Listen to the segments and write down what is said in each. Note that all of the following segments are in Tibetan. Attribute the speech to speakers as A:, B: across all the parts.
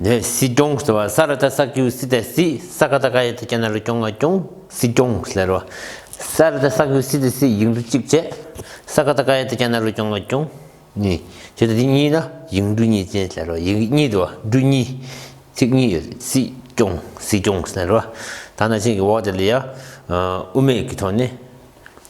A: ནས་སྲིད་སྐྱོང་ཟེར་བ་ས་ར་ཏཱ་སག་ཀྱུའུ་སི་ཏའི་སི་ས་ཀ་ཏཱ་ཀ་ཡ་ཐི་ཀྱ་ན་རུ་སྐྱོང་ང་སྐྱོང་སྲིད་སྐྱོང་ཟེར་བ་ས་ར་ཏཱ་སག་ཀྱུའུ་སི་ཏའི་སི་ཡིག་འབྲུ་གཅིག་བཅས་ས་ཀ་ཏཱ་ཀ་ཡ་ཐི་ཀྱ་ན་རུ་སྐྱོང་ང་སྐྱོང་གཉིས་བྱེད་དེ་འདི་གཉིས་ལ་ཡིག་འབྲུ་གཉིས་ཅན་ཟེར་རོ་ཡིག་གཉིས་དུ་འབྲུ་གཉིས་ཚིག་གཉིས་ཡོད་དེ་སྲིད་སྐྱོང་སྲིད་སྐྱོང་ཟེར་བ་ད་ནང་བཞིན་གྱི་འོག་དེ་ལ་ཡ་ཨུ་མེད་ཀྱི་ཐོག་ནས།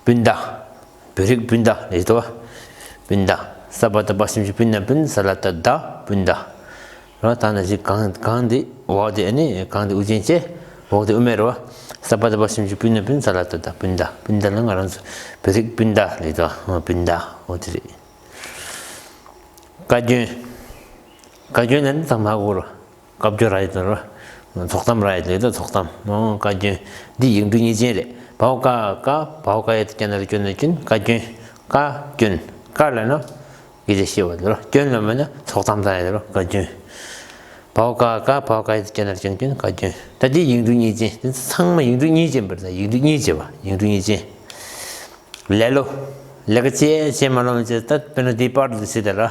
A: སྤུན་ཟླ། བོད་རིགས་སྤུན་ཟླ་ལས་བཟློ་བ། སྤུན་ཟླ། ས་པ་ད་པ་སེམས་ཅན་སྤུན་ནམ་སྤུན་ས་ལ་ད་ཟླ་སྤུན་ཟླ། རོ་ད་ནི་ཞིག་གང་གང་འདི་འོག་འདི་ནི་གང་འདི་དབུ་ཅན་བཅས་འོག་འདི་དབུ་མེད་རོ། ས་པ་ད་པ་སེམས་ཅན་སྤུན་ནམ་སྤུན་ས་ལ་ད་ཟླ་སྤུན་ཟླ་སྤུན་ཟླ་ལ་ང་རང་ཚོ་བོད་རིགས་སྤུན་ཟླ་ལས་བཟློ་བ་སྤུན་ཟླ་འོ་དེ་རེད། བཀའ་བཀྱོན། བཀའ་བཀྱོན་ལ་ནི་ད་མ་གོ་རོ། བཀའ་བརྒྱུད་ར་ཡི་དོན་ར། ཐོག་གཏམ་ར་ཡི་དོན་དོན་ཐོག་གཏམ། བཀའ་བརྒྱུད། འདི་ཡིག་འབྲུ་གཉིས་ཅན་རེད། བ་བ་ཀ་ཀ། བ་བ་ཀ་ཡའི་དཀྱིལ་ན་རེ་སྐྱོན་ན་སྐྱུན། བཀའ་བརྒྱུད། ཀ། སྐྱོན། ཀ་ལ་ནི། ཡི་དེ་ཤེས་བ་དེ་རོ། སྐྱོན་ལ་མི་ནི་ཐོག་གཏམ་དང་ཡ་དེ་རོ། བཀའ་བརྒྱུད། བ་བ་ཀ་ཀ། བ་བ་ཀ་ཡའི་དཀྱིལ་ན་རེ་སྐྱོན་སྐྱུན། བཀའ་བརྒྱུད། ད་འདི་ཡིག་འབྲུ་གཉིས་ཅན། འདི་ཚང་མ་ཡིག་འབྲུ་གཉིས་ཅན་པར་ད་ཡིག་འབྲུ་གཉིས་ཅན་བ་ཡིག་འབྲུ་གཉིས་ཅན། ལེ་ལོ། ལེ་ཀ་ཅེ་ཅེ་མ་ལོ་མ་ཅེ་ད་དཔེར་ན་འདི་པར་དུ་ཚིག་དེ་ར།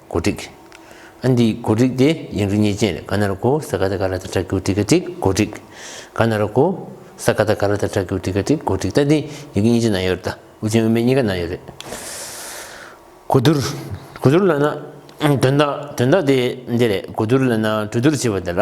A: གོ་སྒྲིག། ཨན་དེའི་གོ་སྒྲིག་དེ་ཡིན་རུ་ཉེས་ཅན་རེད་ག་ན་རུ་ཀོ་ས་ག་ད་ག་ར་ད་ཏྲ་གུ་ཏི་ག་ཏིག་གོ་སྒྲིག། ག་ན་རུ་ཀོ་ས་ག་ད་ག་ར་ད་ཏྲ་གུ་ཏི་ག་ཏིག་གོ་སྒྲིག་ད་དེ་ཡི་གི་ཉེས་ཅན་ན་ཡོད་རེད་ད་དབུ་ཅན་དབུ་མེད་གཉིས་ཀ་ན་ཡོད་རེད། གོ་བསྡུར། གོ་བསྡུར་ལ་ན་དོན་དག་དོན་དག་དེ་འདི་རེད་གོ་བསྡུར་ལ་ན་གྲོས་བསྡུར་བྱས་པ་དེ་ལ།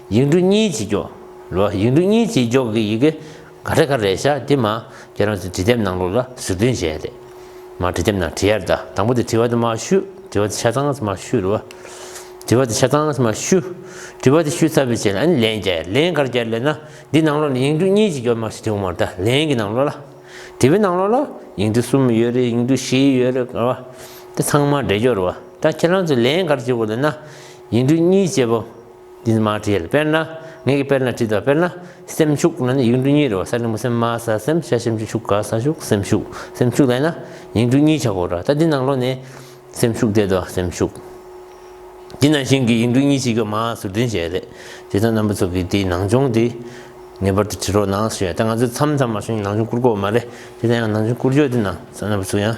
A: ཡིག་འབྲུ་གཉིས་བྱེད་འཇོག། ལོ། ཡིག་འབྲུ་གཉིས་བྱེད་འཇོག་གི་ཡི་གེ་ག་རེ་ག་རེ་བྱ་དེ་མ་ཁྱེད་རང་ཚོས་བྲིས་དེབ་ནང་ལོགས་ལ་ཟུར་འདོན་བྱས་ཏེ། མ་བྲིས་དེབ་ནང་བྲི་ཡར་གདའ། དང་པོ་དེ་བྲི་བ་དེ་མ་བཤུ། བྲི་བ་དེ་ཆ་ཚང་མ་བཤུ་རུ། བྲི་བ་དེ་ཆ་ཚང་མ་བཤུ། བྲི་བ་དེ་བཤུ་ཚར་བའི་ཚེ་ལ་ནི་ལན་བརྒྱ། ལན་གར་བརྒྱ་ལས་ན། འདི་ནང་ལོགས་ནས་ཡིག་འབྲུ་གཉིས་བྱེད་འཇོག་མ་བྱས་དེ་འོག་མར་གདའ། ལན་གྱི་ནང་ལོགས་ལ། བྲི་བའི་ནང་ལོགས་ལ། ཡིག་འབྲུ་གསུམ་ཡོད་རེད་ཡིག་འབྲུ་བཞི་ཡོད་རེད་ཀ་བ། དེ་ཚང་མ་སྦྲེལ་འཇོག་རུ། ད་ཁྱེད་རང་ཚོས་ལན་གར་བྱེད་དགོས་ལ་ན། ཡིག་འབྲུ་གཉིས་བྱེད་པ། འདི་ནི་མ་བྲིས། དཔེར་ན་ངེད་ཀྱིས་དཔེར་ན་བྲིས་དང་དཔེར་ན། སེམས་ཤུགས་ན་ནི་ཡིག་འབྲུ་གཉིས་རེད་བ་ས་ནི་མུ་སེམས་མ་ས་སེམས་ཤ་སེམས་ཀྱི་ཤུགས་ག་ས་ཤུགས་སེམས་ཤུགས་སེམས་ཤུགས་ལ་ཡིན་ན་ཡིག་འབྲུ་གཉིས་ཆགས་དགོས་ར་ད་འདི་ནང་ལོ་ནི། སེམས་ཤུགས་བསྡད་དོ་སེམས་ཤུགས། འདི་ནང་བཞིན་གྱི་ཡིག་འབྲུ་གཉིས་གཅིག་གི་མ་ཟུར་འདྲེན་བྱས་རེད། དེ་དོན་རྣམ་པ་ཚོ་གི་དེའི་ནང་སྦྱོང་དེ། ངེས་པར་དུ་བྲི་རོགས་གནང་ཞེས་ད་ང་ཚོས་མཚམས་མཚམས་མ་བྱུང་ནང་སྦྱོང་བསྐུར་དགོས་བ་མ་རེད་དེ་ད་ཡང་ནང་སྦྱོང་བསྐུར་རྒྱུ་དེ་ནང་ས་རྣམ་པ་ཚོ་ཡང།